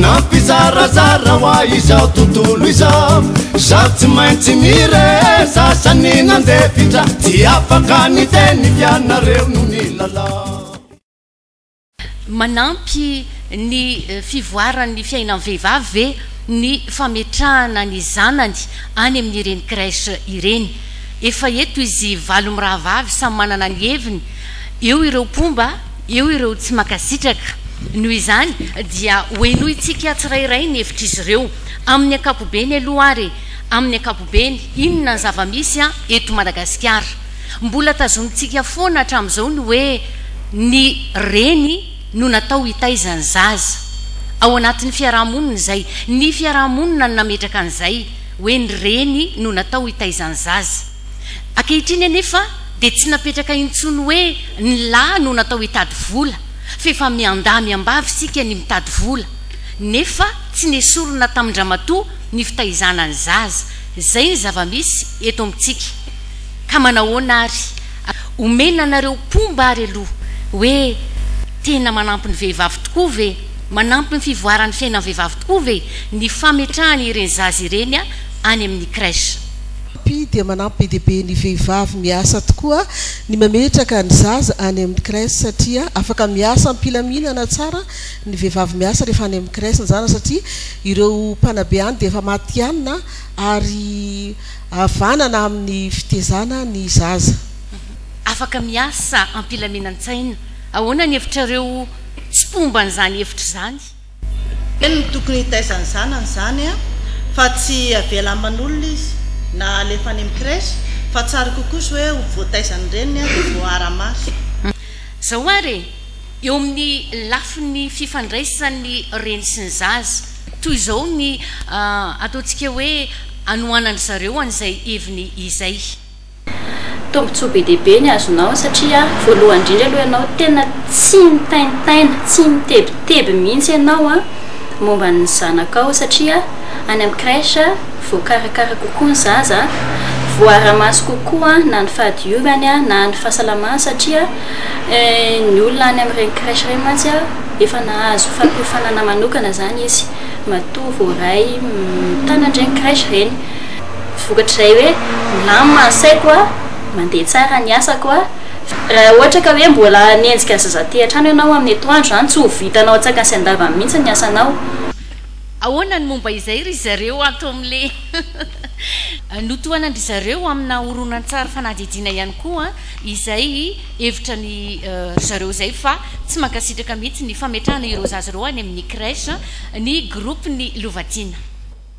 nampizarazara ho a izao tontolo izao zao tsy maintsy mire sasany nandefitra tsy afaka ny teny ianareo no ny lalao manampy ny eh, fivoaran'ny fiainan'ny vehivavy ve ny fametrahana ny zanany any amin'ireny crèche ireny efa eto izy valo mirahavavy samy manana ny heviny eo ireo mpomba eo ireo tsy mankasitraka. Noho izany dia hohenointsika tsirairay ny hevitr'izy ireo. Amin'ny ankapobeny aloha ary, amin'ny ankapobeny, inona ny zava-misy eto Madagasikara? Mbola tazonintsika foana hatramin'izao ny hoe ny reny no natao hitaiza ny zaza. Ao anatin'ny fiarahamonina izay. Ny fiarahamonina no nametraka an'izay hoe ny reny no natao hitaiza ny zaza. Ankehitriny anefa dia tsy napetraka intsony hoe ny lahy no natao hitady vola f'efa miandahy miambavy isika ny mitady vola nefa tsy nesorina tamin-dramatoa ny fitaizana ny zaza. Izay ny zava-misy eto amintsika ka manahoana ary omena anareo mpomba ary aloha hoe tena manampy ny vehivavy tokoa ve, manampy ny fivoaran'ny fiainan'ny vehivavy tokoa ve ny fametrahana ireny zaza ireny any amin'ny crèche. Pi dia manampy be dia be ny vehivavy miasa tokoa ny mametraka ny zaza any amin'ny crèche satria afaka miasa am-pilaminana tsara ny vehivavy miasa rehefa any amin'ny crèche ny zanaka satria ireo mpanabe any dia efa matihanina ary havanana amin'ny fitezana ny zaza. Afaka miasa am-pilaminan-tsaina. Ahoana ny hevitrareo? Tsy mpomba an'izany hevitra izany. Eny no tokony hitaizany zanany izany an! Fa tsy avela aman'olona izy na alefa any amin'ny crèche fa tsara kokoa izao hoe ho voataizan'ny reniny an dia voaara-maso. Zao ary e! Eo amin'ny lafiny fifandraisan'ny reny sy ny zaza, toy izao ny ataontsika hoe anohanan-dry zareo an'izay heviny izay. Tombontsoa be dia be ny azonao satria voalohany indrindra aloha ianao tena tsy mitaintaina, tsy mitebiteby mihitsy ianao momba ny zanakao satria any amin'ny crèche voakarakara kokoa ny zaza, voara-maso kokoa na ny fahadiovany na ny fahasalamany satria ny olona any amin'ireny crèche ireny mantsy efa nahazo fampiofanana manokana izany izy matoa voaray mitana an'ireny crèche ireny. vokatr'izay hoe milamina ny saiko a, mandeha tsara ny asako a. Raha ohatra ka hoe mbola hanenjika ny zazaty hatrany ianao amin'ny atoandro izany tsy ho vitanao an-tsakany sy an-davany mihitsy ny asanao. Ahoana ny momba izay ry zareo ato amin'le notohanan-dry zareo amina horonantsary fanadihadiana ihany koa izay hevitra ny ry zareo izay fa tsy mankasitraka mihitsy ny fametrahana ireo zaza ireo any amin'ny crèche ny groupe-ny Lovatiana.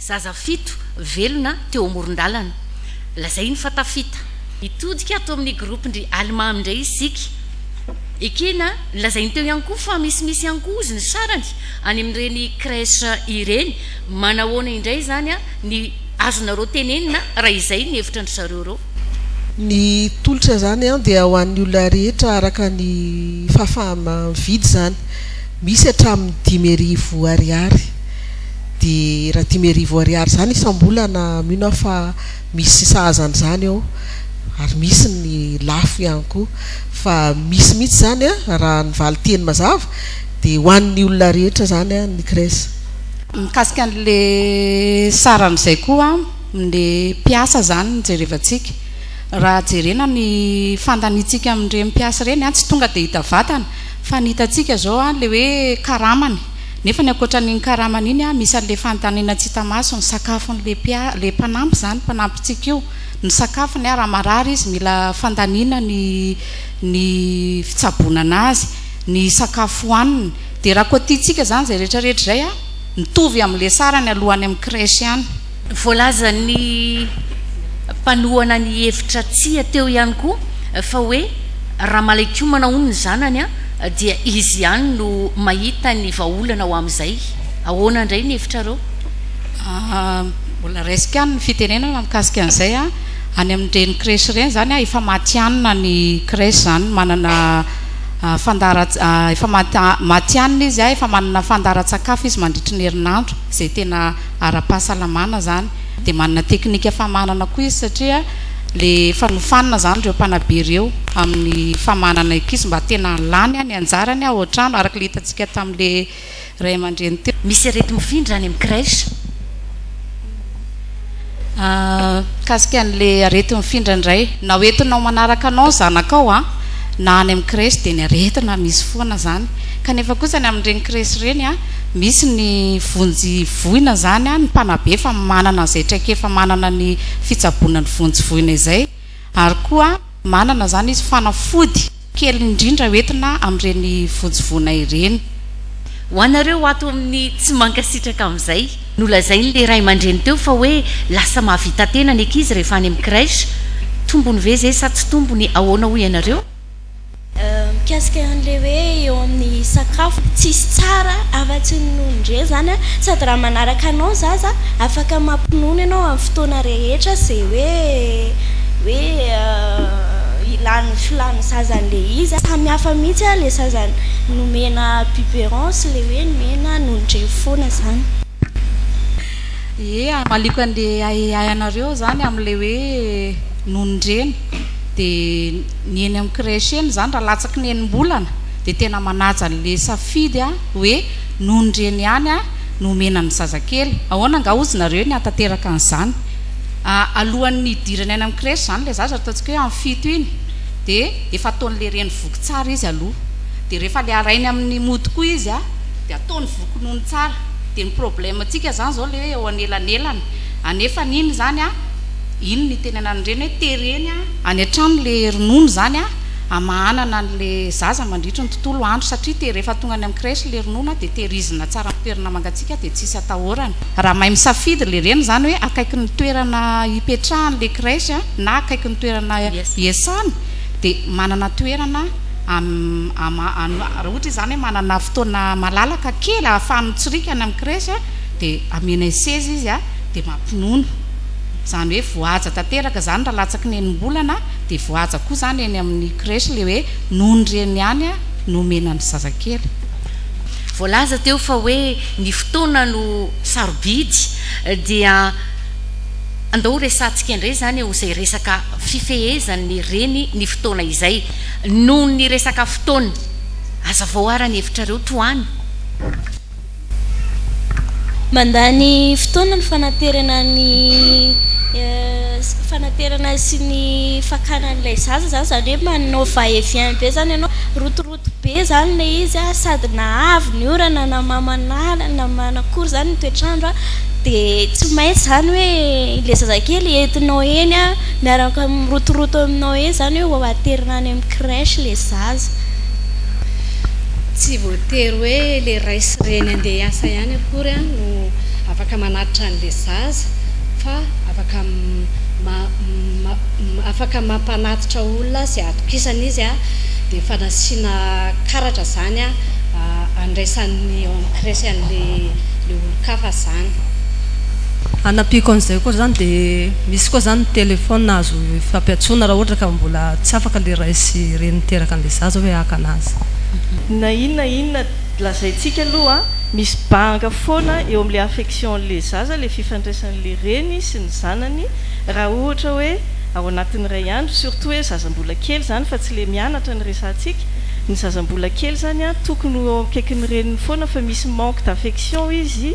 Zaza fito velona teo amoron-dalana. Lazainy fa tafita. Hitodika ato amin'ny gropin-dry Almà indray isika. Ekena, lazainy teo ihany koa fa misimisy ihany koa hozy ny sarany any amin'ireny crèche ireny. Manahoana indray izany ny azonareo tenenina raha izay ny hevitra an-dry zareo ireo? Ny tolotra izany dia ho an'ny olona rehetra araka ny fahafaha-mividy izany. Misy hatramin'ny dimy arivo ariary. Dia raha dimy arivo ariary izany isam-bolana mino aho fa misy sahaza an'izany ao. Ary misy ny lafo ihany koa. Fa misy mihitsy izany raha ny valinteny mazava dia ho an'ny olona rehetra izany ny cres. Mikasika an'ilay saran'izay koa. Ny mpiasa izany no jerevantsika. Raha jerena ny fandaniantsika amin'ireny mpiasa ireny, tsy tonga dia hita vatana, fa ny hitantsika izao ilay hoe karamany. Nefa ny ankoatran'iny karamany iny, misy an'ilay fandaniana tsy hita maso, ny sakafon'ilay mpia- ilay mpanampy izany, mpanampintsika io, ny sakafony, raha marary izy mila fandaniana ny ny fitsaboana an'azy, ny sakafo hohaniny. Dia raha koa tiantsika izany izay rehetrarehetra izay, mitovy amin'ilay sarany alohan'ny amin'ny crèche ihany. Voalazan'ny mpanohana ny hevitra Tsia teo ihany koa fa hoe raha malaikomana hono ny zanany dia izy ihany no mahita ny vahaolana ho amin'izay. Ahoana indray ny hevitrareo? Mbola raisiko ihany ny fitenenana mikasika an'izay. Any amin'ireny crèche ireny izany efa matihanina ny crèche izany, manana fandaharantsika, efa matihanina izy, efa manana fandaharantsakafo izy mandritry ny herinandro izay tena ara-pahasalamana zany de manana teknika famanana koa izy satria le efa nofanina zany reo mpanabe reo amin'ny famanana ankizy mba tena lany ny anjarany ao an-trano araka le hitantsika tamle ray aman-dreny teo. Misy areti-mofo indry any amin'ny crèche? Mikasika an'le areti-mifindra indray na ho entinao manaraka anao ny zanakao an na any amin'ny crèche de ny aretina misy foana zany kanefa kosa ny amin'ireny crèche ireny an Misy ny vonjy voina izany an, ny mpanabe efa manana izay traikefa manana ny fitsaboana ny vonjy voina izay ary koa manana izany izy fanafody kely indrindra hoentina amin'ireny vonjy voina ireny. Ho anareo ato amin'ny tsy mankasitraka amin'izay. Nolazain'ilay ray aman-dreny teo fa hoe lasa mahavita tena ny ankizy rehefa any amin'ny crèche. Tombony ve izay sa tsy tombony, ahoana hoy ianareo? Mikasika an'ilay hoe eo amin'ny sakafo tsisy tsara afa-tsy ny nono indray izany an, sady raha manaraka anao izaho za afaka mampinono ianao amin'ny fotoana rehetra izay hoe hoe ilan'ny filàn'ny zaza an'ilay izy an, samy hafa mihitsy an ilay zaza nomena biberon sy ilay hoe nomena nono indray foana izany. Ie, hamaliako an'ilay ahiahy anareo izany amin'ilay hoe nonon-dreny dia. Ny eny amin'ny crèche eny izany raha latsaky ny enim-bolana dia tena manaja an'ilay safidy hoe noho ny reny ihany no omena ny zazakely. Ahoana angaha hozy nareo ny hanatanteraka an'izany? Alohan'ny hidirany any amin'ny crèche izany ilay zaza, ataontsika hoe amin'ny fito iny, dia efa ataon'ilay reny voky tsara izy aloha. Dia rehefa ilay harainy amin'ny mody koa izy dia ataony voky nono tsara. Dia ny problème-ntsika izany izao ilay hoe eo anelanelany. Anefany iny izany, iny no itenenan'ny reny hoe tereny. Any an-trano le ronono zany a hamahanana an le zaza mandritry ny tontolo andro satria te rehefa tonga any amin'ny crèche le ronono a de tehirizina tsara amin'ny toerana mangatsiaka de tsisy atahorana. Raha mahay misafidy le reny zany hoe akaiky ny toerana hipetrahany le crèche a na akaiky ny toerana hiasany de manana toerana raha ohatra izy zany hoe manana fotoana malalaka kely ahafahany mitsirika any amin'ny crèche a de ameanay seza izy a de mampinono. Izany hoe voahaja tanteraka izany raha latsaky ny enim-bolana dia voahaja koa izany eny amin'ny crèche ilay hoe noho ny reny ihany no omena ny zazakely. Voalaza teo fa hoe ny fotoana no sarobidy dia andao ho resahantsika indray izany eo izay resaka fifehezan'ny reny ny fotoana izay. Noho ny resaka fotoana, hazavao ara ny hevitrareo tohano. Mandany fotoana ny fanaterana ny fanaterana sy ny fakana an'ilay zaza zany, zany hoe manao va et vient be zany ianao, rotoroto be zany ilay izy an, sady na avy ny orana na mamanala na manakory zany ny toetr'andro an, dia tsy maintsy zany hoe ilay zazakely entinao eny an, miaraka mirotoroto aminao eny zany hoe ho aterina any amin'ny crèche ilay zaza. tsy voatery hoe ilay ray sy reny handeha hiasa ihany akory no afaka manatitra an'ilay zaza fa afaka afaka mampanatitra olona izay atokisana izy an, dia efa nasiana karatra izany an handraisan'ny ao amin'ny crèche an'ilay olon-kafa izany. Hanampiako an'izay koa izany dia misy koa izany ny téléphone azo ifampiantsoana raha ohatra ka mbola tsy afaka ilay ray sy reny miteraka an'ilay zaza. Za zao hoe haka anazy. Na inona inona lazaintsika aloha a, misy banga foana eo amin'ilay affection-n'ilay zaza, ilay fifandraisan'ilay reny sy ny zanany raha ohatra hoe ao anatin'ny iray andro, surtout hoe zaza mbola kely izany fa tsy ilay mianatra no resahantsika, ny zaza mbola kely izany a tokony ho eo akaikin'ny reniny foana fa misy manque d'affection izy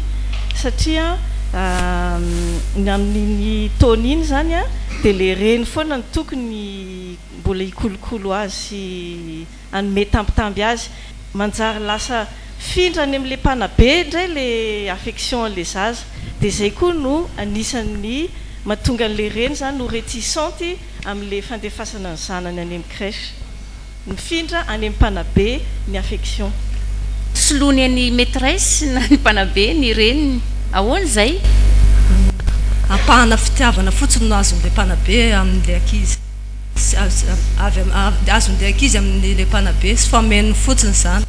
satria ny amin'iny taona iny izany a dia ilay reny foana no tokony mbola hikolokolo azy sy hanome tambitamby azy, manjary lasa findra any amin'ilay mpanabe indray ilay affection an'ilay zaza, dia izay koa no anisan'ny mahatonga an'ilay reny izany ho reticente amin'ilay fandefasana ny zanany any amin'ny crèche. Mifindra any amin'ny mpanabe ny affection. Soloany an'i maitresse na ny mpanabe ny reniny. Ahoana izay? Ampahana fitiavana fotsiny no azon'ilay mpanabe amin'ilay ankizy. azon'ilay ankizy amin'ilay mpanabe sy fa omeny fotsiny izany,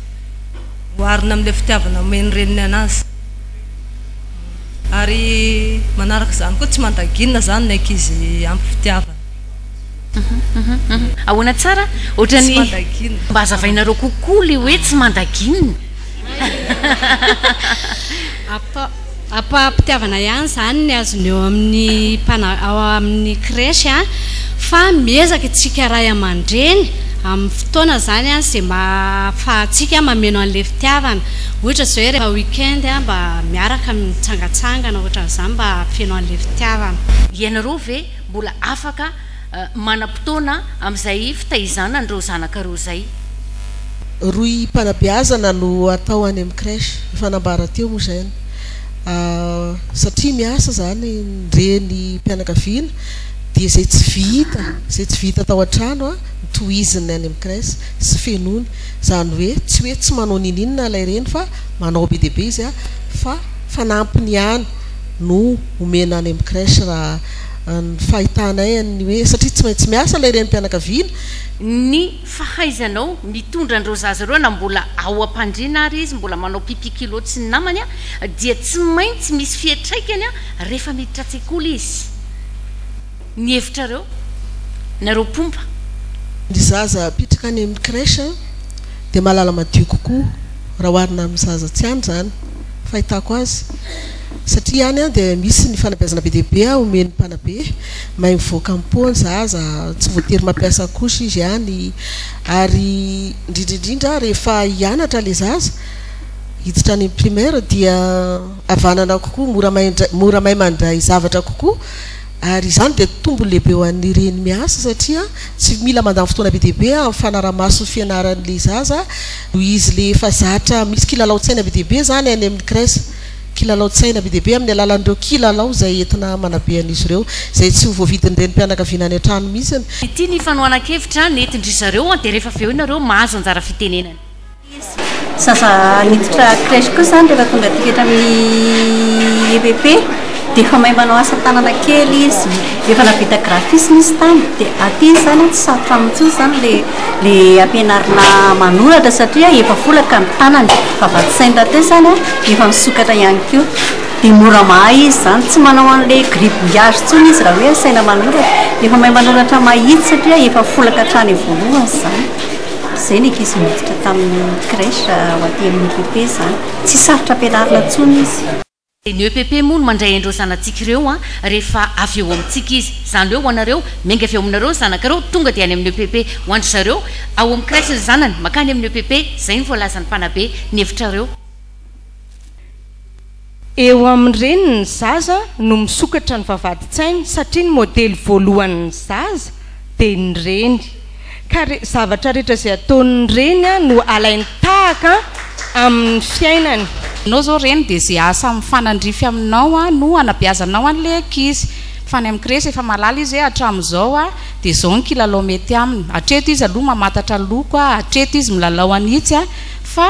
oharina amin'ilay fitiavana omen'ny reniny an'azy. Ary manaraka izany koa tsy mandaginina izany ny ankizy ampy fitiavana. Ahoana tsara? Ohatran'ny. Tsy mandaginina. Mba hazavainareo kokoa ilay hoe tsy mandaginina. Ampa-pitiavana ihany izany ny azony eo amin'ny mpana, ao amin'ny crèche an, fa miezaka isika ray aman-dreny amin'ny fotoana izany an, izay mahafahantsika mameno an'ilay fitiavana, ohatra izao hoe rehefa week-end an, mba miaraka mitsangatsangana ohatran'izany mba hahafeno an'ilay fitiavana. Ianareo ve mbola afaka manam-potoana amin'izay fitaizana an'ireo zanaka ireo izay. Rohim-panabeazana no atao any amin'ny crèche, efa nambara teo moa izay ny satria miasa izany ny renim-pianakaviana dia izay tsy vita, izay tsy vita tao an-trano no tohiziny any amin'ny crèche sy fenoiny, izany hoe tsy hoe tsy manao ninininona ilay reny fa manao be dia be izy fa fanampiny ihany no omena any amin'ny crèche raha Ny fahitanay an'ny hoe satria tsy maintsy miasa ilay renim-pianakaviana. Ny fahaizanao mitondra an'ireo zaza ireo na mbola ao am-pandriana ary izy, mbola manao pipi kilo tsy ny namany, dia tsy maintsy misy fiatraikany rehefa miditra an-tsekoly izy. Ny hevitrareo, nareo mpomba? Ny zaza apitraka any amin'ny crèche dia mahalala madio kokoa raha oharina amin'ny zaza tsy any izany, fahitako azy. Satria any dia misy ny fanabeazana be dia be omen'ny mpanabe, may mivoaka am-po ny zaza, tsy voatery mampiasa couche izy any, ary indrindra indrindra rehefa hianatra ilay zaza, hiditra any amin'ny primaire dia havanana kokoa, mora may indray, mora may mandray zavatra kokoa, ary izany dia tombony lehibe ho an'ny reny miasa satria tsy mila mandany fotoana be dia be amin'ny fanara-maso ny fianaran'ilay zaza noho izy ilay efa zatra misy kilalaon-tsaina be dia be izany any amin'ny crèche. kilalaon-tsaina be dia be amin'ny alalan'ireo kilalao izay entina manabe an'izy ireo, izay tsy ho voavidin'ny renim-pianakaviana any an-trano mihitsy. Ity ny fanohanan-kevitra nentin-dry zareo dia rehefa avy eo ianareo mahazo anjara fitenenana. Zaza niditra crèche kosa izany rehefa tonga aty rehetra amin'ny EPP. Dia efa mahay manao asa tanana kely izy. Efa nahavita graphisme izy tany. Dia aty izy izany an, tsy sarotra aminy intsony izany ilay ilay ampianarina manoratra satria efa folaka ny tanany. Fa vats'ainy rahateo izany an, efa misokatra ihany koa. Dia mora mahay izy izany. Tsy manao an'ilay gribouillage intsony izy raha hoe asaina manoratra. Efa mahay manoratra mahitsy satria efa folaka hatrany voalohany izany. Izay ny ankizy miditra tamin'ny crèche ho aty amin'ny EPP izany. Tsy sarotra ampianarina intsony izy. Dia ny EPP moa no mandray an'ireo zanatsika ireo an, rehefa avy eo amintsika izy. Izany hoe ho anareo, miainga avy eo aminareo ny zanakareo, tonga dia any amin'ny EPP. Ho an-dry zareo, ao amin'ny crèche ny zanany, mankany amin'ny EPP, izay no voalazan'ny mpanabe. Ny hevitrareo. Eo amin'ny reniny ny zaza no misokatra ny vavahadin-tsainy satria ny modely voalohan'ny zaza dia ny reny. ka re, zavatra rehetra izay ataon'ny reny an, no alainy tahaka an, amin'ny fiainany. Ianao izao reny dia izay asa mifanandrify aminao an, no anabeazanao an'ilay ankizy. Fa any amin'ny crèche efa mahalala izy hoe hatramin'izao an, dia izao ny kilalao mety aminy. Hatreto izy aloha mamantatra loko an, hatreto izy milalao an'itsy an, fa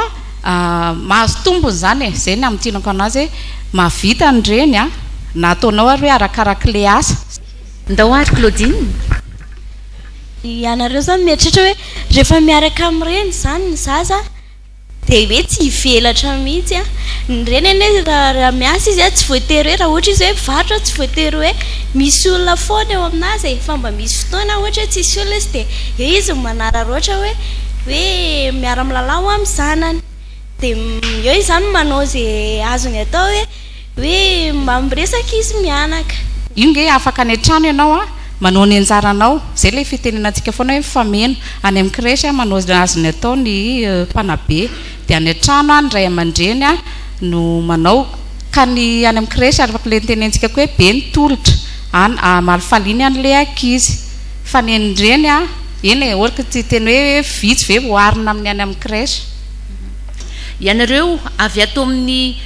mahazo tombony izany e. Izay ny hamintinako an'azy hoe, mahavita ny reny an, na ataonao ary hoe arakarak'ilay asa. Ndao ary Claudine. Ianareo zany mieritreritra hoe rehefa miaraka amin'ny reny izany ny zaza dia hoe tsy hivelatra mihitsy an! Ny reny anie raha raha miasa izy an tsy voatery hoe raha ohatra izy hoe mpivarotra tsy voatery hoe misy olona foana eo amin'azy e! Fa mba misy fotoana ohatra hoe tsisy olona izy dia eo izy no manararaotra hoe hoe miara-milalao amin'ny zanany dia eo izy izany manao izay azony atao hoe Hoe mba miresaka izy mianaka. Io nge afaka any an-trano ianao a, manao ny anjaranao, zay ilay fitenenantsika foana hoe mifameno, any amin'ny crèche a manao ny azony atao ny mpanabe, dia any an-trano a ny ray aman-dreny a no manao, ka ny any amin'ny crèche araka ilay nitenentsika koa hoe be ny tolotra, any hamaly-faly iny any ilay ankizy, fa ny an'ny reny a, eny e, ohatra ka tsy hiteny hoe vitsy ve vao oharina amin'ny any amin'ny crèche. Ianareo avy ato amin'ny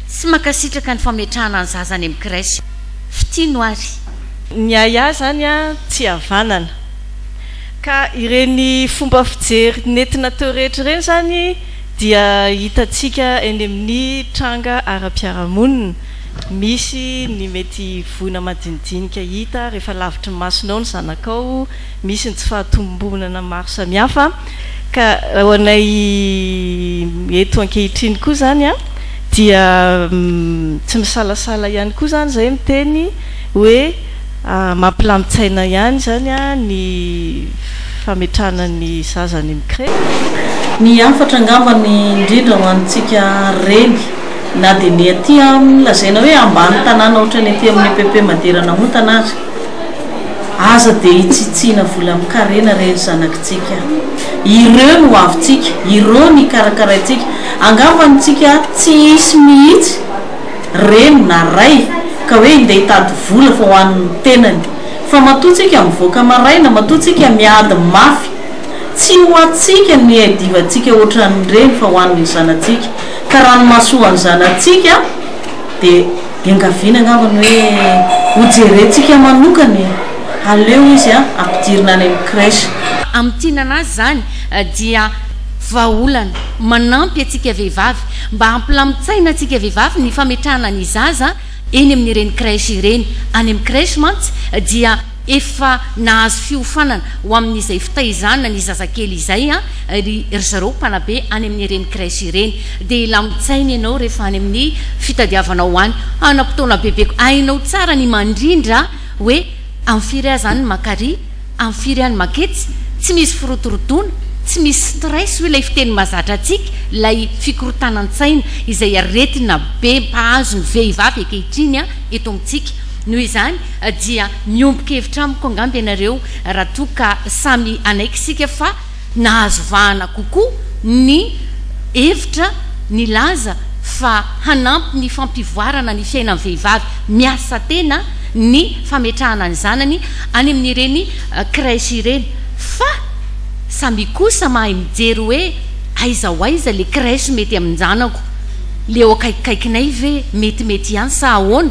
tsy mankasitraka ny fametrahana ny zaza any amin'ny crèche. Fitia no ary. Ny ahiahy izany tsy havanana. Ka ireny fomba fijery nentina teo rehetra ireny izany dia hitantsika eny amin'ny tranga ara-piarahamonina. Misy ny mety voina madinidinika hita rehefa lavitry ny masonao ny zanakao. Misy ny tsy fahatombonana maro samihafa ka ho anay eto ankehitriny koa izany dia tsy misalasala ihany koa izany izahay miteny hoe mampilamin-tsaina ihany izany ny fametrahana ny zaza any amin'ny crèche. Ny hafatra angamba ny indrindra ho antsika reny na dia ny aty amin'ny lazaina hoe ambany tanàna ohatran'ny aty amin'ny EPP Madera Namontana aza, Aza dia hitsitsiana volam-karena re ry zanakitsika a! Ireo no hoavintsika, ireo no ikarakaraintsika. Angamba ny tsika tsy hisy mihitsy reny na ray ka hoe hindeha hitady vola fa ho an'ny tenany. Fa matoa tsika mivoaka maraina, matoa tsika miady mafy, tsy ho antsika ny divantsika ohatran'ireny fa ho an'ny zanatsika. Ka ranomasoan'ny zanatsika dia. Iangaviana angamba ny hoe ho jerentsika manokana e! Aleo izy ampidirina any amin'ny crèche. Amin'ny tinana azy izany dia vahaolana manampy antsika vehivavy mba hampilamin-tsaina antsika vehivavy ny fametrahana ny zaza eny amin'ireny crèche ireny. Any amin'ny crèche mantsy dia. Efa nahazo fiofanana ho amin'izay fitaizana ny zazakely izay ry zareo mpanabe any amin'ireny crèche ireny. Dia hilamin-tsaina ianao rehefa any amin'ny fitadiavanao any hanam-potoana bebeko. Hainao tsara ny mandrindra hoe amin'ny firy aza any maka ary amin'ny firy any maka etsy. Tsy misy firotorotoana, tsy misy stress hoy ilay fiteny mahazatra antsika, ilay fikorontanan-tsaina izay aretina be mpahazo ny vehivavy ankehitriny eto amintsika. Noho izany, dia miombon kevitra amiko angamba ianareo raha toa ka samy hanaiky isika fa nahazo vahana kokoa ny hevitra nilaza fa hanampy ny fampivoarana ny fiainan'ny vehivavy miasa tena ny fametrahana ny zanany any amin'ireny crèche ireny fa samia kosa mahay mijery hoe aiza ho aiza le crèche mety amin-janako le eo akaikikaikinay ve metimety ihany sa ahoana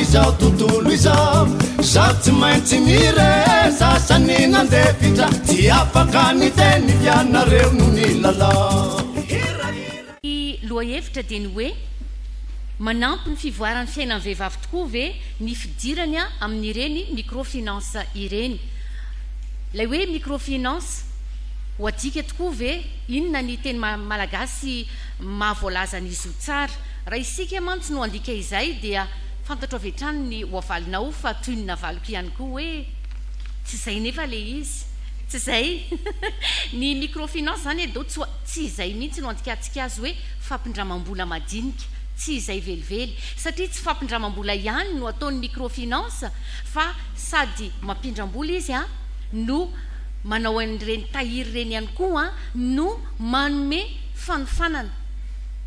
Izao tontolo izao Zaho tsy maintsy miresasa Ny nandefitra Tsy afaka ny teny Ianareo no nilalao Ny lohahevitra dia ny hoe, Manampy ny fivoaran'ny fiainan'ny vehivavy tokoa ve ny fidirany amin'ireny microfinance ireny? Ilay hoe microfinance, ho adika tokoa ve? Inona ny teny malagasy maha voalaza an'izy io tsara? Raha isika mantsy no handika izay dia fantatro avy hatrany ny ho avalinao fa toy ny navaliko ihany koa hoe tsy izay nefa ilay izy. Tsy izay? Ny microfinance izany eh do tsoa, tsy izay mihitsy no andikantsika azy hoe fampindramam-bola madinika, tsy izay velively, satria tsy fampindramam-bola ihany no ataon'ny microfinance fa sady mampindram-bola izy an, no manao an'ireny tahiry ireny ihany koa an, no manome fanofanana.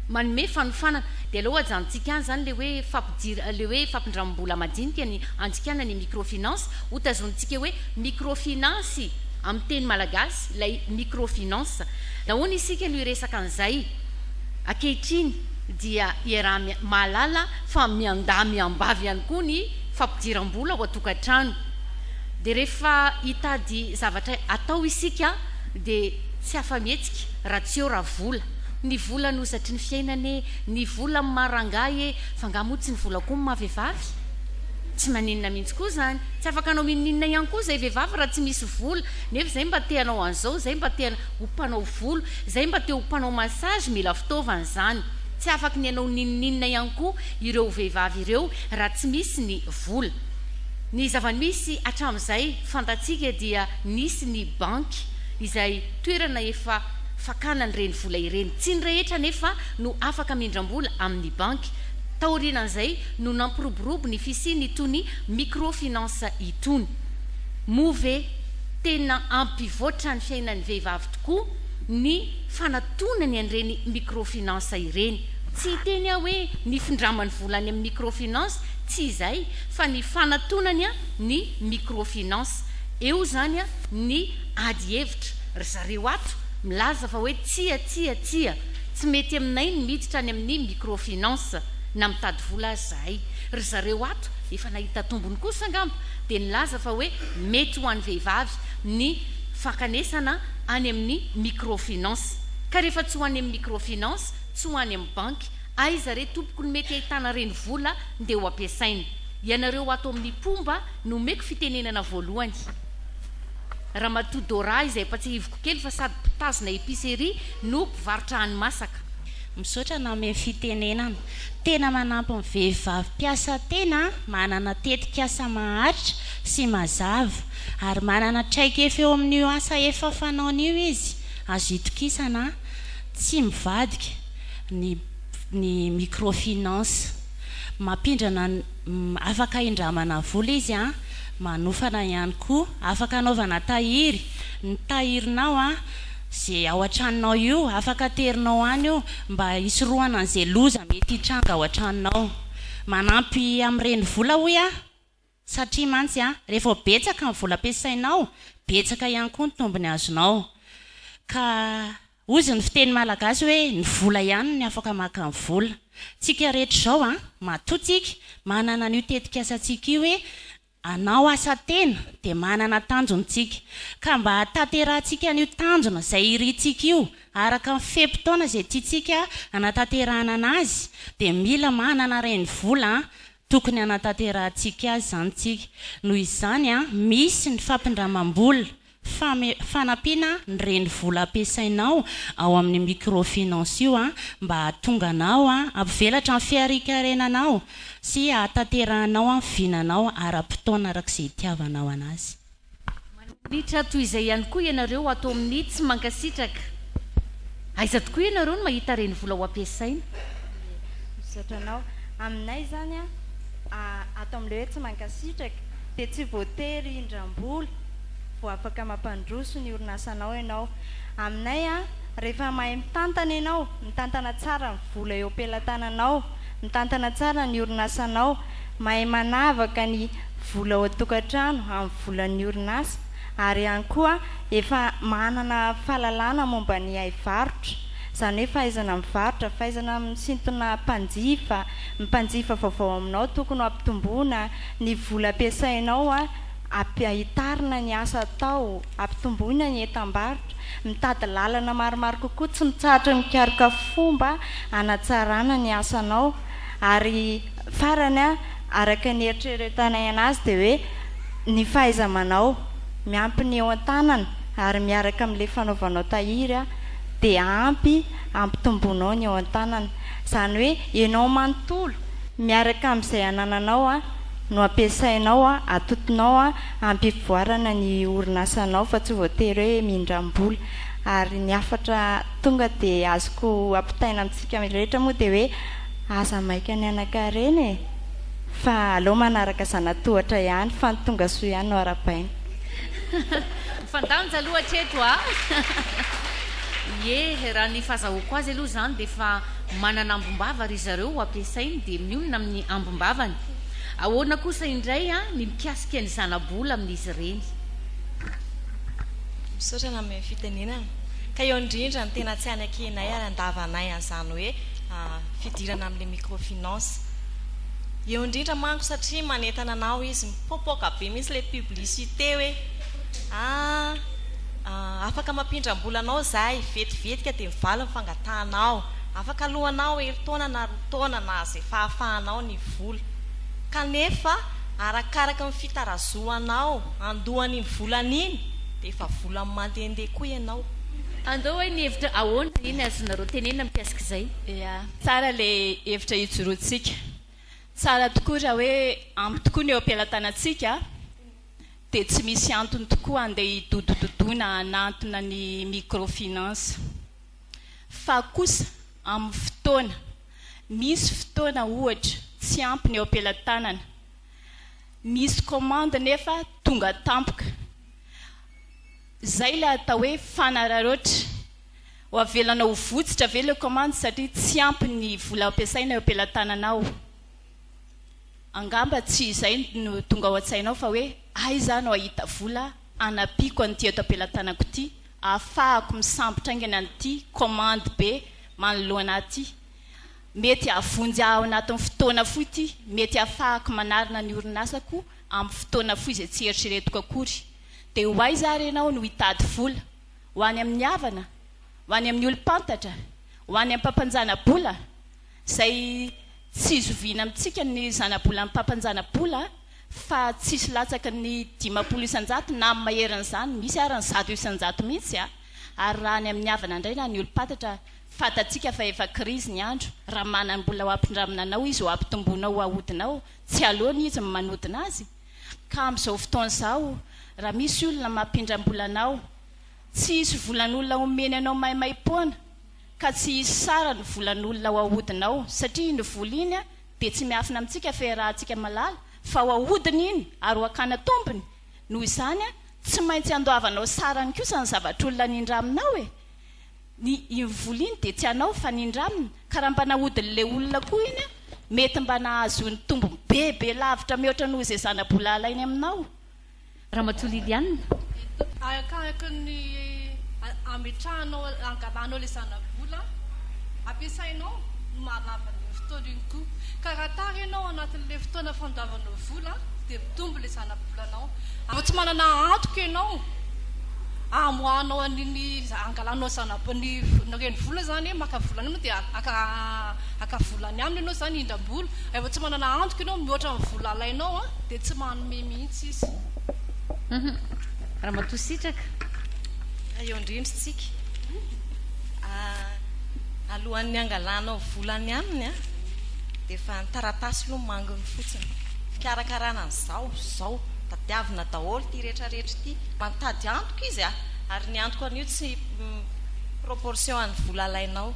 manome fanofanana dia aleo ajanontsika any izany ilay hoe fampijir ilay hoe fampindramim-bola madinika ny anjikana ny microfinance ho tazonintsika hoe microfinance amin'ny teny malagasy ilay microfinance nahoana isika no hiresaka an'izay ankehitriny dia iaraha mahalala fa miandahy miambavy ihany koa ny fampidiram-bola ao an-tokantrano dia rehefa hitady zavatra atao isika dia tsy afa-mihetsika raha tsy eo raha vola Ny vola no zatry ny fiainana ee, ny vola amin'ny maha rangahy ee, fa nga moa tsy ny vola koa ny maha vehivavy? Tsy maninona mihintsy koa zany, tsy afaka hanao inoninona ihany koa zay vehivavy raha tsy misy vola, nefa zay mba te hanao an'izao, zay mba te ho mpanao volo, zay mba te ho mpanao massage mila fitaovana zany, tsy afaky ny hanao n'inoninona ihany koa ireo vehivavy ireo raha tsy misy ny vola. Ny zava-misy hatramin'izay fantatsika dia nisy ny banky izay toerana efa fakana ireny vola ireny. Tsy ny rehetra anefa no afaka mindram-bola amin'ny banky. Taorianan'izay no nampiroborobo ny fisian'itony microfinance itony. Moa ve tena hampivoatra ny fiainan'ny vehivavy tokoa ny fanatonany an'ireny microfinance ireny? Tsy hiteny aho hoe nifindramany vola any amin'ny microfinance, tsy izay, fa ny fanatonany ny microfinance. Eo izany ny. Ady hevitra ry zareo ato milaza fa hoe tsia, tsia, tsia, tsy mety aminay ny miditra any amin'ny microfinance na mitady vola aza zahay. Ry zareo ato efa nahita tombony kosa angamba dia nilaza fa hoe mety ho an'ny vehivavy ny fankanesana any amin'ny microfinance. Ka rehefa tsy ho any amin'ny microfinance, tsy ho any amin'ny banky, aiza re tompoko no mety ahitana ireny vola ndeha ho ampiasaina? Ianareo ato amin'ny mpomba no omeko fitenenana voalohany. Ramatoa Dora izay efa tsihiviko kely fa sady mpitazona epicerie no mpivarotra hani-masaka. Misaotra nanome fitenenana. Tena manampy ny vehivavy mpiasa tena manana tetikasa maharitra sy mazava ary manana traikefa eo amin'io asa efa fanaony io izy. Azo itokisana, tsy mivadika, ny ny microfinance. Mampindrana ny. Afaka indramana vola izy an! Manofana ihany koa! Afaka anaovana tahiry! Ny tahirinao an! Ze ao an-tranonao io! Afaka aterinao any io! Mba hisorohana an'ze loza mety hitranga ao an-tranonao! Manampy amin'ny renivola hoy aho! Satria mantsy an! Re vao betsaka ny vola ampiasainao! Betsaka ihany koa ny tombony azonao! Ka. Ozy ny fiteny malagasy hoe ny vola ihany ny afaka maka ny vola. Tsika rehetra izao an, matoa tsika manana an'io tetik'asantsika io hoe anao asa tena dia manana tanjony tsika. Ka mba hatanterahantsika an'io tanjona izay irintsika io araka ny fe-potoana izay tiantsika hanatanterahana anazy dia mila manana ireny vola tokony hanatanterahantsika azy izany tsika. Noho izany an, misy ny fampindramam-bola. Fame, fanampiana ny reny vola ampiasainao ao amin'ny microfinance io mba hahatonga anao hampivelatra ny fiarikarenanao sy hahatanterahanao ny vinanao ara-potoana araka izay itiavanao anazy. Maninitra toy izay ihany koa ianareo ato amin'ny tsy mankasitraka. Aiza tokoa ianareo no mahita reny vola ho ampiasaina? Ie, misaotra anao. Aminay izany, ato amin'ilay hoe tsy mankasitraka, dia tsy voatery hindram-bola. vao afaka mampandroso ny orinasanao ianao. Aminay, rehefa mahay mitantana ianao, mitantana tsara ny vola eo am-pelatananao, mitantana tsara ny orinasanao, mahay manavaka ny vola ao an-tokantrano amin'ny volan'ny orinasa ary ihany koa efa manana fahalalana momba ny haivarotra, izany hoe fahaizana mivarotra, fahaizana misintona mpanjifa, ny mpanjifa vaovao aminao tokony ho ampitomboina, ny vola ampiasainao. Ampiahitarina ny asa atao, ampitomboina ny entam-barotra, mitady lalana maromaro kokoa tsy mitsahatra mikaroka fomba hanatsarana ny asanao ary farany araka ny eritreretanay anazy dia hoe ny fahaiza-manao, miampy ny eo an-tanana ary miaraka amin'ilay fanaovanao tahiry dia ampy hampitomboanao ny eo an-tanana izany hoe ianao manontolo miaraka amin'izay anananao. no ampiasainao, atotonao hampivoarana ny orinasanao fa tsy voatery hoe mindram-bola. Ary ny hafatra tonga dia azoko ampitaina amintsika rehetra moa dia hoe aza maika ny hanan-karena e! fa aleo manaraka zana-tohatra ihany fa ny tonga soa ihany no arabaina. Mifandanja loha hatreto a! Ieh, raha ny fazahoako azy aloha izany dia efa. Manana ambom-bava ry zareo ho ampiasainy dia mionona amin'ny ambom-bavany. Ahoana kosa indray ny mikasika ny zana-bola amin'izy ireny? Misaotra anao amin'ny fitenenana. Ka eo indrindra ny tena tsy hanekenay ary handavanay an'izany hoe fidirana amin'ilay microfinance. Eo indrindra manko satria manentana anao izy. Mipoapoaka be mihitsy ilay publicité hoe ah. Afaka mampindram-bola anao izahay, vetivetika dia mivaly ny fangatahanao. Afaka aloanao herintaona na roa taona na izay fahafahanao ny vola. Kanefa, arakaraka ny fitarazohanao handoa an'iny volana iny, dia efa vola mandehandeha koa ianao. Andao hay ny hevitra ahoana iny azonareo tenenina mikasika izay. Ea, tsara ilay hevitra ijoroantsika. Tsara tokoa raha hoe ampy tokoa ny eo am-pelatanantsika. dia tsy misy antony tokoa handeha hidodododoina hanantona ny microfinance. Fa kosa amin'ny fotoana, misy fotoana ohatra tsy ampy ny eo am-pelatanana, misy commande nefa tonga tampoka, izay ilay atao hoe fanararaotra, ho avelana ho votsitra ve ilay commande satria tsy ampy ny vola ampiasaina eo am-pelatananao? Angamba tsy izay no tonga ao an-tsainao fa hoe aiza no hahita vola hanampiako an'ity eto am-pelatanako ity hahafahako misambotra aingana an'ity commande be manoloana ahy ity. Mety hahavonjy ahy ao anatin'ny fotoana fohy ity, mety hahafahako manarina ny orinasako amin'ny fotoana fohy izay tsy eritreretiko akory. Dia ho aiza ary ianao no hitady vola? Ho any amin'ny havana? Ho any amin'ny olom-pantatra? Ho any am-pampanjana-bola? izay tsy zoviana amintsika ny zanabolan'ny mpampanjanabola fa tsisy latsaky ny dimampolo isanjato na amin'ny maherin'izany misy ary ny zato isanjato mihitsy a! ary raha any amin'ny havana indray na ny olom-patatra fantatsika fa efa krizy ny andro raha manam-bola ho ampindramina anao izy ho ampitomboinao ho ahodinao tsy aleony izy ny manodina azy ka amin'izao fotoana izao raha misy olona mampindram-bola anao tsy hisy volan'olona homeny anao maimaim-poana ka tsy hisy sara ny volan'olona ao ahodina ao satria iny vola iny dia tsy miafina amintsika fa iarahantsika malala fa ao ahodina iny ary ho akana tombony noho izany tsy maintsy andoavanao sarany kosa ny zavatr'olona nindraminao e! ny iny vola iny dia tsy anao fa nindramina ka raha mba nahodin'ilay olona koa iny mety mba nahazoany tombony bebe lavitra mihoatra noho izay zana-bola alainy aminao Ramatoa Liliane. Arakaraky ny ametrahanao, angalanao ilay zanabola ampiasainao no mahalava an'iny fotoana iny koa. Ka raha tara ianao anatin'ilay fotoana fandoavanao vola dia mitombo ilay zanabolanao. Raha tsy manana antoka ianao hamoahanao an'iny angalanao zanabola, ny renivola izany hoe maka vola any ianao dia haka vola any aminy ianao izany hindram-bola. Raha vao tsy manana antoka ianao mihoatra ny vola alainao dia tsy manome mihitsy. mihitsy izy. Hum Ramatoa Sitraka. Eo indrindra tsika. Ah, alohan'ny hangalanao vola any aminy ah, dia efa ny taratasy aloha manginy fotsiny. Fikarakarana an'izao, izao. Tadiavina daholo ity rehetra rehetra ity. Mantady antoko izy ah, ary ny antoko anio tsy proportion an'ny vola alainao.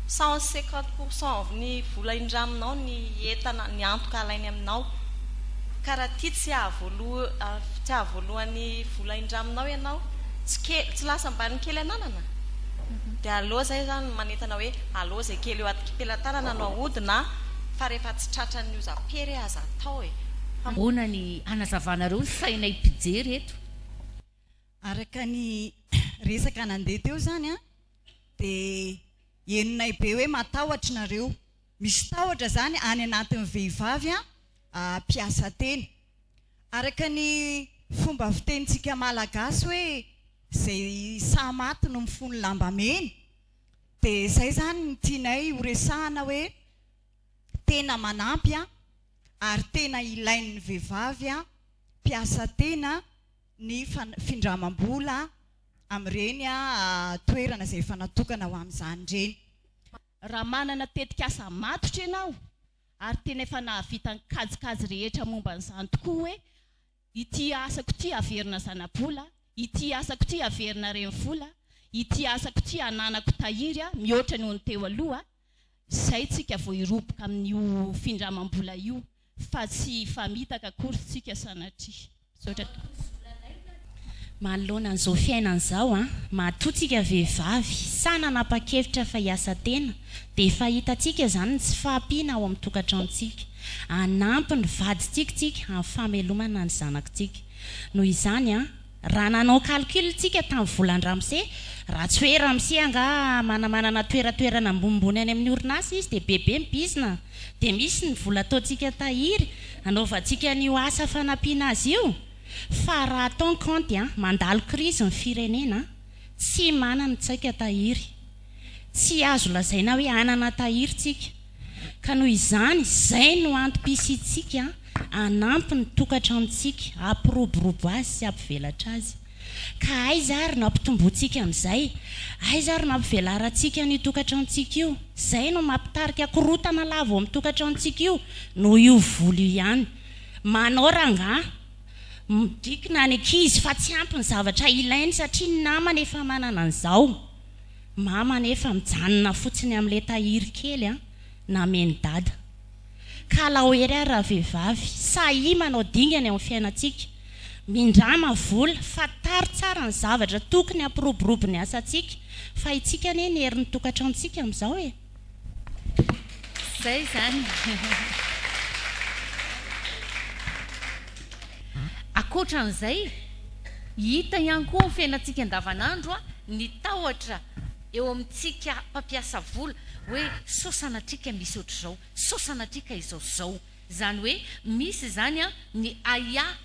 Cent cinquante pourcent ny vola indraminao ny entana, ny antoka alainy aminao. Ka raha tia tsy hahavoaloan'ny vola indraminao ianao, tsy lasa ambaniny kely ananana? Dia aleo izay izany manentana hoe aleo izay kely eo atkipelatanana no ahodina fa rehefa tsy tratran'ny ozam-pery aza atao e! Fa. Ahoana ny hanazavanareo ny sainay mpijery eto? Araka ny resaka nandeha teo izany dia henonay be hoe matahotra nareo. Misy tahotra izany any anatin'ny vehivavy mpiasa teny. Araka ny fomba fitenintsika malagasy hoe izay saha maty no mifono lamba mena, dia izay izany no tianay horesahana hoe tena manampy ary tena ilain'ny vehivavy mpiasa tena ny findramam-bola amin'ireny toerana izay efa natokana ho amin'izany ireny. Raha manana tetikasa matotra ianao ary tena efa nahavita ny kajikajy rehetra momba an'izany tokoa hoe, ity asako ity haverina zana-bola, ity asako ity haverina renivola, ity asako ity hananako tahiry mihoatra noho ny teo aloha, izay tsika vao hiroboka amin'io findramam-bola io. fa tsy hifamitaka akory isika sanatria. Misaotra tompoko. Manoloana an'izao fiainana izao an, matoa tsika vehivavy sahy nanapa-kevitra fa hiasa tena dia efa hitantsika izany ny tsy fahampiana ao amin'ny tokantranontsika. Hanampy ny vadintsika isika amin'ny famelomana ny zanakitsika. Noho izany an, Raha nanao calcul isika tamin'ny volan'i Ramsey, raha tsy hoe Ramsey angaha manamanana toeratoerana ambonimbony any amin'ny orinasa izy dia bebe ny bizna dia misy ny vola ataontsika tahiry hanaovantsika an'io asa fanampiana azy io fa raha atao ny kaonty an, mandalo krizy ny firenena an, tsy manana tsaika tahiry. Tsy azo lazaina hoe hanana tahiry tsika, ka noho izany izay no antom-pisiantsika hanampy ny tokantranontsika hampiroborobo azy sy hampivelatra azy. Ka aiza ary no hampitomboantsika an'izay? Aiza ary no hampivelarantsika an'io tokantranontsika io? Izay no mampitarika korotana lava ao amin'ny tokantranontsika io noho io voly io ihany. Manao rangahy midrikina ny ankizy fa tsy ampy ny zavatra ilainy satria ny namany efa manana an'izao. Mama anefa mijanona fotsiny amin'ilay tahiry kely an, namen'i Dada. Kalao ery ary ravehivavy, sahia manao dingana eo amin'ny fiainantsika, mindrama vola, fantaro tsara ny zavatra tokony hampiroborobo ny asantsika, fa itsika anie ny herin'ny tokantranontsika amin'izao e! Zay izany. Ankoatra an'izay, hita ihany koa ao amin'ny fiainantsika andavanandro ny tahotra eo amintsika mpampiasa vola hoe sao sanatria ka misy ohatr'izao, sao sanatria ka izao sy izao. Izany hoe misy izany ny ahiahy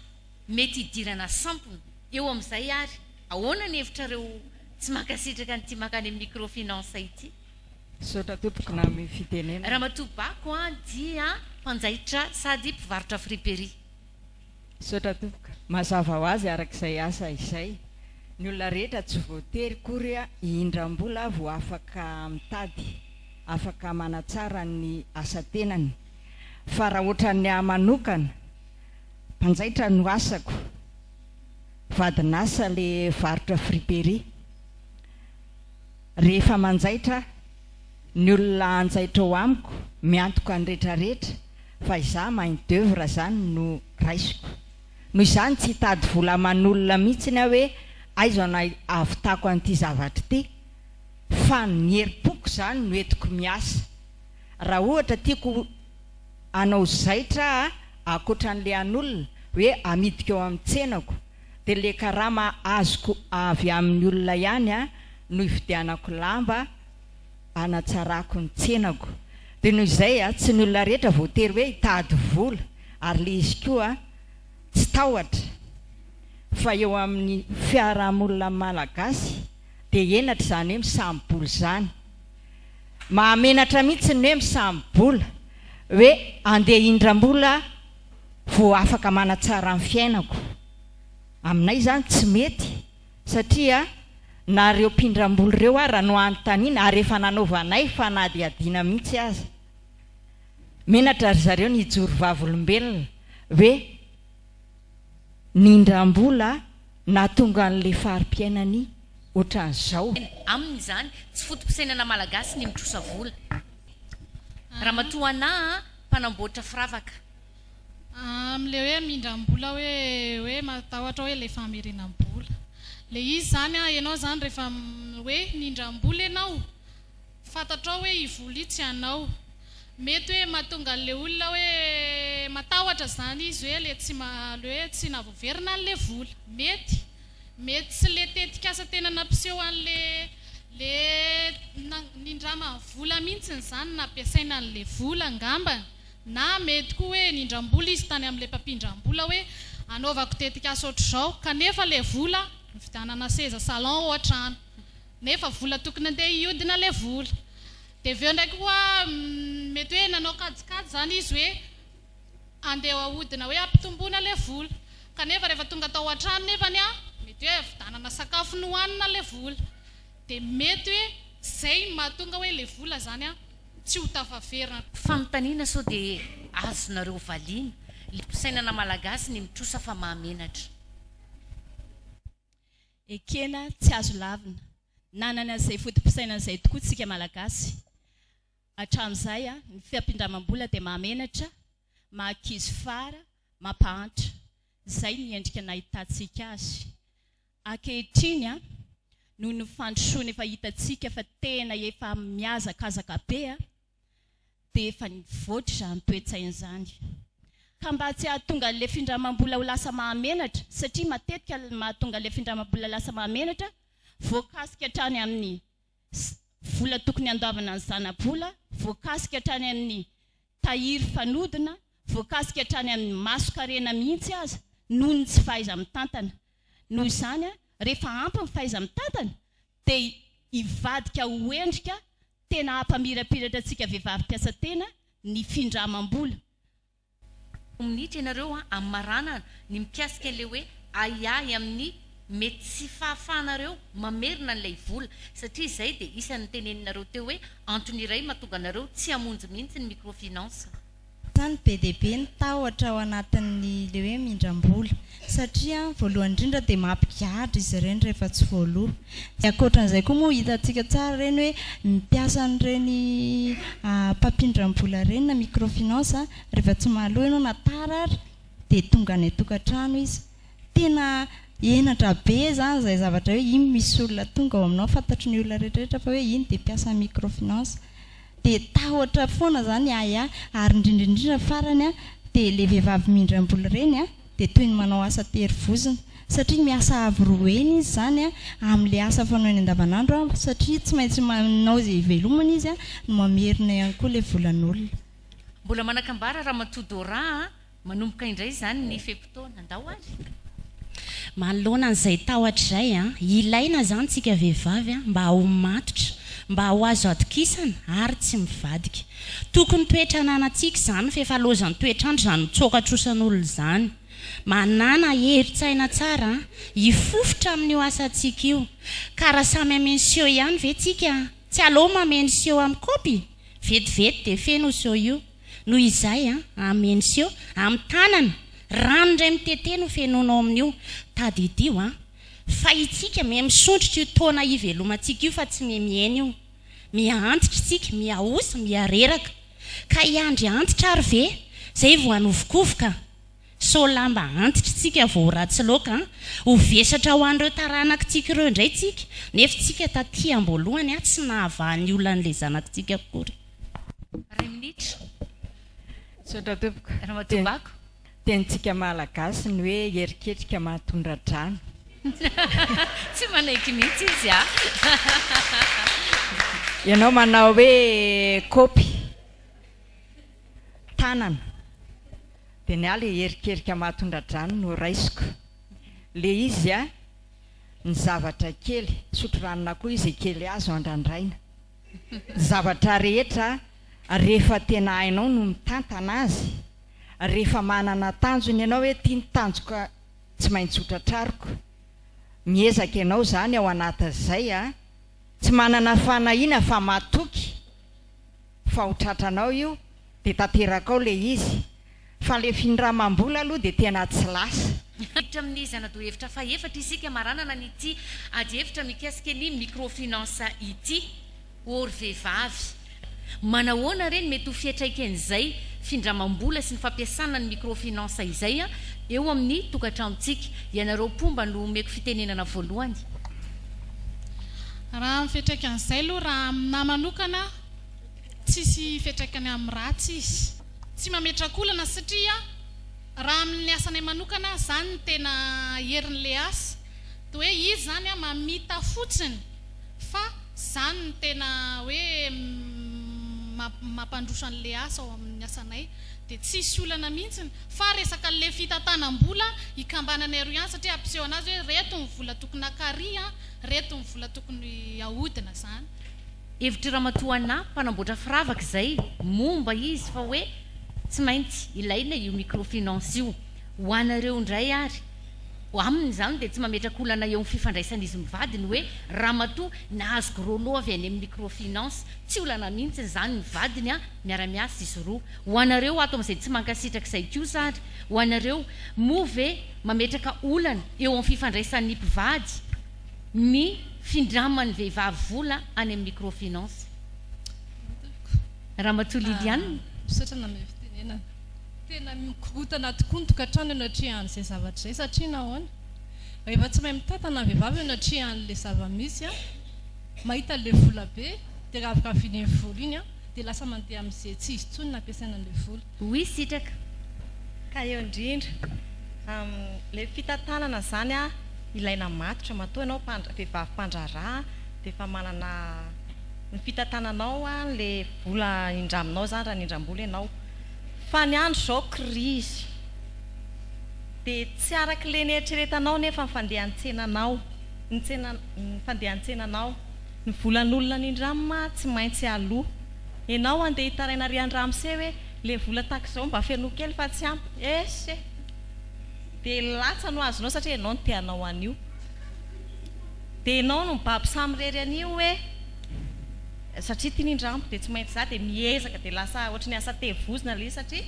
mety hidirana sampona. Eo amin'izay ary, ahoana ny hevitrareo tsy mankasitraka an'ity mankany amin'ny microfinance ity? Misaotra tompoko name fitenenana. Ramatoa Bako a dia mpanjaitra sady mpivarotra friperie. Misaotra tompoko. Mazava ho azy araka izay asa izay. Ny olona rehetra tsy voatery kory hihindram-bola vo afaka mitady, afaka manatsara ny asa tenany. Fa raha otran'ny ahy manokana, mpanjaitra no asako, vadin'asa le varotra friperie. Rehefa manjaitra aho, ny olona hanjaitra ao amiko miantoka ny retraretra fa izaho main d'oeuvre zany no raisiko. Noho izany tsy hitady vola aman'olona mihitsiny aho hoe aiza no ahavitako an'ity zavatra ity fa ny herim-poko zany no entiko miasa. Raha ohatra tiako hanao zaitra aho ankoatra an'le an'olona hoe amidiko ao amin'ny tsenako dia le karama azoko avy amin'ny olona ihany no hividianako lamba hanatsarako ny tsenako dia noho izay tsy ny olona rehetra voatery hoe hitady vola ary le izy koa tsy tahotra fa eo amin'ny fiarahamonina malagasy dia henatra izany hoe misamibola izany mahamenatra mihitsy ny hoe misamibola hoe andeha hindrambola vao afaka manatsara ny fiainako. Aminay izany tsy mety satria na ireo mpindrambola ireo ara no anontaniana ary efa nanaovanay fanadihadiana mihitsy aza. Menatra ry zareo ny hijoro vavolombelona hoe nindrambola nahatonga an'ilay fari-piainany ohatran'izao. Aminy izany tsy foto-pisainana malagasy ny mitrosa vola. Ramatoa Anah a! mpanamboatra firavaka. Amin'ilay hoe hamindram-bola hoe hoe matahotra hoe ilay famerenam-bola. Ilay izy izany an, ianao izany rehefa hoe mindram-bola ianao, fantatrao hoe io vola io tsy anao. Mety hoe mahatonga an'ilay olona hoe matahotra izany izy hoe le tsy maha le hoe tsy nahavoaverina an'ilay vola. Mety. Mety tsy le tetikasa tena nampiseho anle le nindrama vola mintsiny zany nampiasaina anle vola ngambany na mety koa hoe nindrambola izy tany amle mpampindrambola hoe anaovako tetikasa otrzao kanefa le vola nividanana seza salon ohatra an nefa vola tokony andeha hiodina le vola de aveo ndraiky koa mety hoe nanao kajikajy zany izy hoe Andeha hahodina hoe hampitomboina le vola. Kanefa rehefa tonga tao an-trano nefany an, mety hoe havidanana sakafo nohanina le vola. De mety hoe zay no mahatonga hoe le vola zany an tsy ho tafaverina. Fanontaniana sao dia azonareo valiana le fisainana malagasy ny mitrosa fa mahamenatra. Ekena tsy azo lavina. Nanana izay foto-pisainana izay tokoa tsika malagasy. Hatramin'izay, ny fiampindramam-bola dia mahamenatra, maha-kizo fara, mampahantra. Izay ny endrika nahitantsika azy. Ankehitriny, noho ny fandrosoana efa hitantsika fa tena efa mihazakazaka be, dia efa nivoatra izany toe-tsaina izany. Ka mba tsy hahatonga an'ilay findramam-bola ho lasa mahamenatra, satria matetika ny mahatonga an'ilay findramam-bola lasa mahamenatra, voakasika hatrany amin'ny. sy vola tokony handovana ny zana-bola, voakasika hatrany amin'ny tahiry fanodina, voakasika hatrany amin'ny mason-karena mihitsy aza noho ny tsy fahaiza-mitantana. Noho izany, rehefa ampy ny fahaiza-mitantana dia hivadika ho endrika tena hampamirapiratra antsika vehivavy mpiasa tena ny findramam-bola Roa minitra ianareo an, amin'ny maranana, ny mikasika ilay hoe ahiahy amin'ny mety tsy fahafahanareo mamerina an'ilay vola, satria izay dia isan'ny noteneninareo teo hoe antony iray mahatonga anareo tsy hamonjy mihitsy ny microfinance. Sa ny be dia be ny tahotra ao anatin'ny ilay hoe mindram-bola? satria voalohany indrindra dia mampigadra izy ireny rehefa tsy voaloa, dia ankoatran'izay koa moa hitantsika tsara ireny hoe ny mpiasa an'ireny mpampindram-bola ireny na microfinance rehefa tsy mahaloa ianao na tara ary dia tonga any an-tokantrano izy, tena henatra be izany izay zavatra hoe iny misy olona tonga ao aminao fantatry ny olona rehetrarehetra fa hoe iny dia mpiasan'ny microfinance, dia tahotra foana izany ahiahy ary indrindraindrindra farany dia ilay vehivavy mindram-bola ireny an, dia toy ny manao asa tery vozona satria miasa avo roa heny izy izany amin'ilay asa fanaony andavanandro satria tsy maintsy manao izay hivelomany izy no mamerina ihany koa ilay volan'olona. Mbola manakambara Ramatoa Dora a! Manomboka indray izany ny fe-potoana. Ndao ary! Manoloana an'izay tahotra izay a! Ilaina izany tsika vehivavy a! Mba ho matotra, mba ho azo atokisana ary tsy mivadika. Tokony toetra ananantsika izany f'efa loazan'ny toetr'andro izany mitsoaka trosan'olona izany. Manana herin-tsaina tsara hifofotra amin'io asantsika io. Ka raha samy hameno siô ihany ve tsika? Tsy aleo mameno siô amin'ny kaopy? Vetivety dia feno io siô io. Noho izay, hameno siô amin'ny tanana, rano indray mitete no fenoinao amin'io. Tadidio fa itsika miha misondrotra io taona hivelomantsika io fa tsy miha mihena io. Miha antitra isika, miha osa, miha reraka. Ka hiandry antitra ary ve? Izay vao hanovokovoka? Sao lamba antitra isika vao ho ratsy loaka an! Ho vesatra ho an'ireo taranakitsika ireo indray isika, nefa isika taty am-boalohany an, tsy nahavaha ny olan'ilay zanakitsika akory. Iray minitra. Misaotra tompoko. Ramatoa Bako. Tenintsika Malagasy ny hoe eriketrika mahatondra drano. Tsy manaiky mihitsy izy a! Ianao manao hoe kopy tanana dia ny ahy ilay erikerika mahatondra drano no raisiko. Ilay izy a! ny zavatra kely, sotro ranon'akoho izy e kely azo andrandraina. Zavatra rehetra rehefa tena hainao no mitantana azy, rehefa manana tanjona ianao hoe ity ny tanjoka tsy maintsy ho tratrariko, miezaka ianao izany ao anatin'izay a, tsy manana fanahiana fa matoky fa ho tratranao io, Dia tanteraka ao ilay izy. Fa ilay findramam-bola aloha dia tena tsy lasa. Miditra amin'ny zana-dohevitra fahefatra isika maranana an'ity adihevitra mikasika ny microfinance ity. Ô ry vehivavy! Manahoana re ny mety ho fiatraiken'izay findramam-bola sy ny fampiasana ny microfinance izay eo amin'ny tokantranontsika? Ianareo mpomba no omeko fitenenana voalohany. Raha ny fiatraikan'izay aloha raha aminà manokana. Tsisy fiantraikany amin'ny ratsy izy. Tsy mametraka olana satria raha amin'ny asanay manokana izany no tena herin'ilay asa dia hoe izy izany mamita fotsiny fa tsy izany no tena hoe mampandroso an'ilay asa ao amin'ny asanay dia tsisy olana mihitsiny fa resaka an'ilay fitantanam-bola ikambananay aroa ihany satria ampiseho an'azy hoe reto ny vola tokony hakary an, reto ny vola tokony hahodina izany. Hevitry Ramatoa Anna, mpanamboatra firavaka izay, momba izy fa hoe tsy maintsy ilaina io microfinance io. Ho anareo indray ary, aminy izany dia tsy mametraka olana eo amin'ny fifandraisan'izy mivady ny hoe ramatoa nahazo gros lot avy any amin'ny microfinance. Tsy olana mihitsy izany ny vadiny an, miara-miasa izy roa. Ho anareo ato amin'izay tsy mankasitraka izay kosa ary, ho anareo, moa ve mametraka olana eo amin'ny fifandraisan'ny mpivady? ny findraman'ny vehivavy vola any amin'ny microfinance. Ramatoa Liliane. Misaotra nanome fitenenana. Tena mikorontana tokoa ny tokantrano eo anatrehan'izay zavatra izay satria nahoana? Rehefa tsy mahay mitantana ny vehivavy eo anatrehan'ilay zava-misy, mahita an'ilay vola be dia raviraviny iny vola iny dia lasa mandeha amin'izay tsy izy intsony no ampiasaina an'ilay vola. Oui sitraka. Ka eo indrindra amin'ilay fitantanana izany an, ilaina matotra. Matoa ianao vehivavy mpandraharaha dia efa manana ny fitantananao an, ilay vola indraminao izany raha nindram-bola ianao. Fa ny andro izao krizy. Dia tsy araka ilay nieritreretanao anefa ny fandehan-tsenanao, ny tsenanao, ny fandehan-tsenanao. Ny volan'olona nindramina tsy maintsy aloa. Enao andeha hitaraina ry andramse hoe le vola tax zao mba fenoy kely fa tsy ampy esh e! de latsa no azonao satria enao no tehanao anio de enao no mibaby samirery anio hoe satria tiany indrambo de tsy maintsy za de miezaka de lasa ohatry ny asa tevozina le izy satria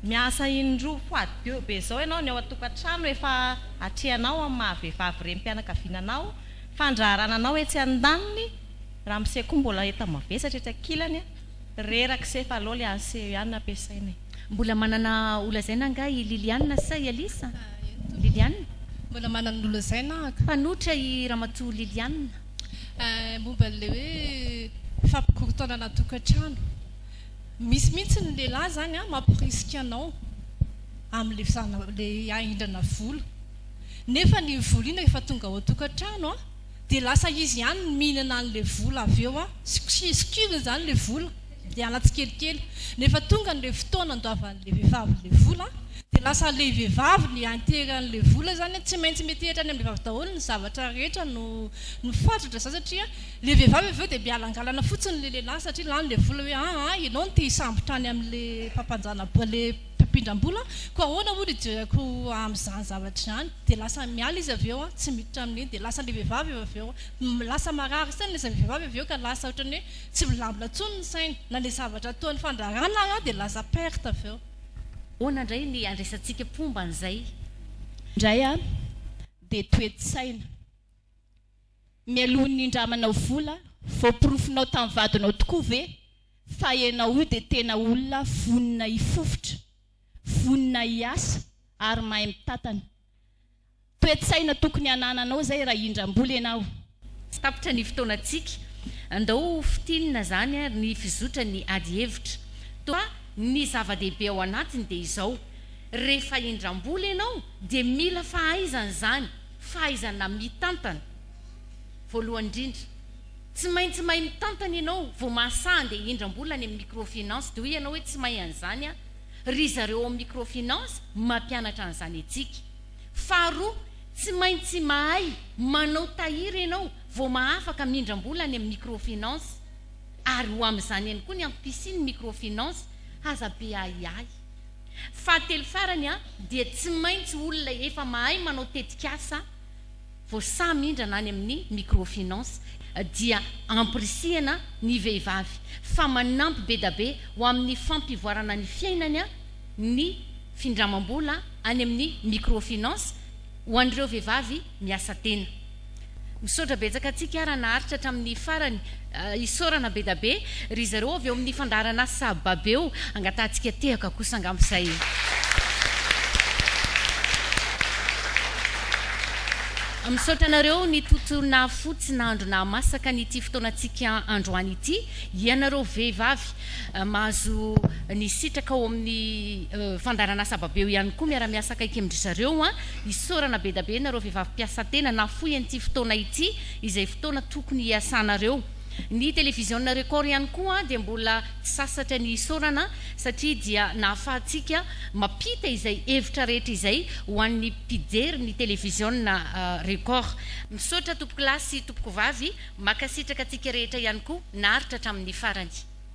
miasa indroa fois deux be zao enao ny ao atokatrano efa atrehanao amin'ny maha vehivavy renim-pianakaviana anao fandraharana anao etsy andaniny Ramose koa mbola entana mavesatra etsy ankilany a! Reraka se fa aleo le an'i Seo ihany no ampiasaina e! Mbola manana ho lazaina angaha i Liliane sa i Alice a? Liliane? Mbola manana ny ho lazaina aho ka! Mpanohitra i Ramatoa Liliane. Eh, momba an'ilay hoe fampikorontanana tokantrano. Misy mihitsy ny lehilahy izany an, mamporisika anao amin'ilay fizarana, ilay hahindrana vola. Nefa iny vola iny rehefa tonga ao an-tokantrano an! Dia lasa izy ihany no mihinana an'ilay vola avy eo an! Sikirizikiriny izany ilay vola, miala tsikelikely. Nefa tonga an'ilay fotoana andoavan'ilay vehivavy ilay vola an! Dia lasa ilay vehivavy ilay antery an'ilay vola izany an! Tsy maintsy metehitra any amin'ilay vehivavy daholo ny zavatra rehetra no no fatratra izany satria ilay vehivavy avy eo dia mialangalana fotsiny ilay lehilahy satria lany ilay vola hoe aa ianao no te hisambotra any amin'ilay mpampanjana ilay mpampindram-bola, koa ahoana hono hijereko amin'izany zavatra izany? dia lasa miala izy avy eo an, tsy miditra amin'iny, dia lasa ilay vehivavy eo avy eo, lasa marary saina ilay vehivavy avy eo ka lasa ohatran'ny hoe tsy milamina intsony ny sainy, na ilay zavatra ataony fandraharahana ary dia lasa perte avy eo. Ahoana indray ny handraisantsika mpomba an'izay? Indray an, dia toe-tsaina. Mialoha ny nindramanao vola, voaporofonao tamin'ny vadinao tokoa ve fa ianao io dia tena olona vonona hifofotra, vonona hiasa ary mahay mitantana? Toe-tsaina tokony hanananao izay raha hindram-bola ianao. Tsy tapitra ny fotoanantsika. Andao ho fintinina izany ary ny fizotra ny ady hevitra. Toa ny zava-dehibe ao anatiny dia izao, rehefa hindram-bola ianao dia mila fahaizana izany. Fahaizana mitantana, Voalohany indrindra, tsy maintsy mahay mitantana ianao vao mahasaha handeha hihindram-bola any amin'ny microfinance, dia hoy ianao hoe tsy mahay an'izany aho. Ry zareo ao amin'ny microfinance mampianatra an'izany antsika. Faharoa, tsy maintsy mahay manao tahiry ianao vao mahafaka mihindram-bola any amin'ny microfinance. Ary ho amin'izany ihany koa ny ampisian'ny microfinance, aza be ahiahy. Fahatelo farany dia tsy maintsy olona efa mahay manao tetikasa vao sahy mindrana any amin'ny microfinance dia ampirisihana ny vehivavy fa manampy bedabe ho amin'ny fampivoarana ny fiainany ny findramam-bola any amin'ny microfinance ho an'ireo vehivavy miasa tena. Misaotra betsaka antsika ara naharitra hatramin'ny farany isaorana bedabe ry zareo avy ao amin'ny fandaharan'asa babeo angatahantsika tehaka kosa angamba izay misaotra anareo nitotona fo tsy nandro nahamasaka an'ity fotoanantsika androany ity ianareo vehivavy mahazo nisitraka ao amin'ny fandaharan'asa babeo ihany koa miara-miasa akaiky amin-dry zareo Isaorana bedabe nareo vehivavy mpiasa tena nafoy an'ity fotoana ity izay fotoana tokony hiasanareo. Ny televiziona Record ihany koa dia mbola tsy sasatra ny isaorana satria dia nahafahantsika mampita izay hevitra rehetra izay ho an'ny mpijery ny televiziona Record. Misaotra tompokolahy sy tompokovavy, makasitraka antsika rehetra ihany koa naharitra hatramin'ny farany.